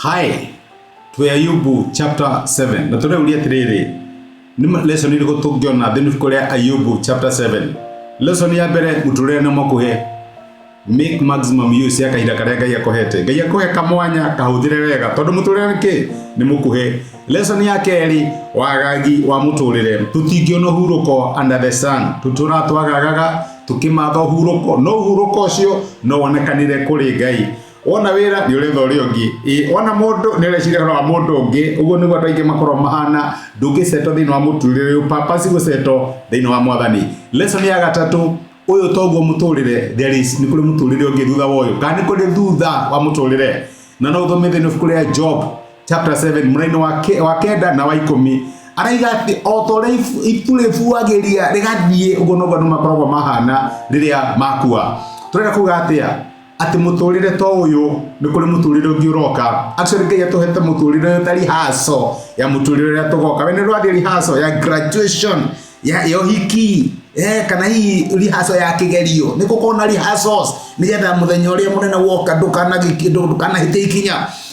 hi twä ayubu chapter 7 na tå rä å ria atä rä rä nä lesson irä kå tå ngä ona thä kå rä a ayubu chapter 7 lesson ya mbere må tå rä re na må kå he make maximum use ya kahinda karĩa ngai akũhete ngai akũhe kamwanya kahũthĩre wega tondũ mũtũrĩre kĩ nĩ mũkuhĩ lesson ya kerĩ wagagi wa mũtũrĩre tũtingĩona ũhurũko under the sun tũtũra twagagaga tũkĩmatha ũhurũko no ũhurũko ũcio no wonekanire kũrĩ ngai wona wĩra nĩ ũretha ũrĩa ũngĩ Ĩ, wona mũndũ nĩ ũreciria ũhoro wa mũndũ ũngĩ ũguo nĩguo andũ aingĩ makorwo mahana ndũngĩceto thĩinĩ wa mũtũrĩre ũyũ papasi gũceto thĩinĩ wa mwathani lesson ya gatatũ ũyũ toguo mũtũrĩre there is nĩ kũrĩ mũtũrĩre ũngĩ thutha wa ũyũ kana nĩ kũrĩ thutha wa mũtũrĩre na no ũthome thĩinĩ wa ibuku rĩa job chapter 7 mũrainĩ wa ke- wa kenda na wa ikũmi araiga atĩ o ta ũrĩa ibu- ibu rĩbuagĩria rĩgathiĩ ũguo noguo andũ makoragwo mahana rĩrĩa makua tũrenda kuga atĩa atĩ mũtũrĩre to ũyũ nĩ kũrĩ mũtũrĩre ũngĩ ũroka actually ngai atũhete mũtũrĩre ũyũ ta rihaco ya mũtũrĩre ũrĩa tũgoka we nĩ ũrathiĩ rihaco ya graduation ya ya ũhiki eh, kana hihi rihaco ya kĩgerio nĩ gũkorwo na rihacos nĩgetha mũthenya ũrĩa mũnene woka ndũkanagĩki- ndũ- ndũkanahĩte ikinya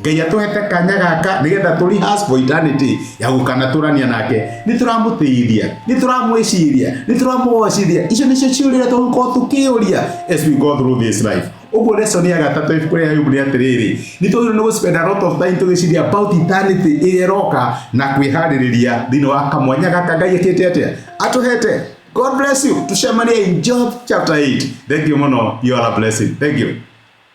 Ngai atũhete kanya gaka nĩgetha tũ rehearse for eternity ya gũkanatũrania nake nĩ tũramũtĩithia nĩ tũramwĩciria nĩ tũramũgocithia icio nĩcio ciũrĩa tũgũkorwo tũkĩũria as we go through this life ũguo lesson ya gatatũ ibuku rĩa Ayubu nĩ atĩrĩrĩ nĩ tũgĩrĩirwo nĩ gũspend a lot of time tũgĩciria about eternity ĩrĩa ĩroka na kwĩharĩrĩria thĩinĩ wa kamwanya gaka Ngai ekĩte atĩa atũhete God bless you tucemanie in Job chapter 8 thank you mũno you are a blessing thank you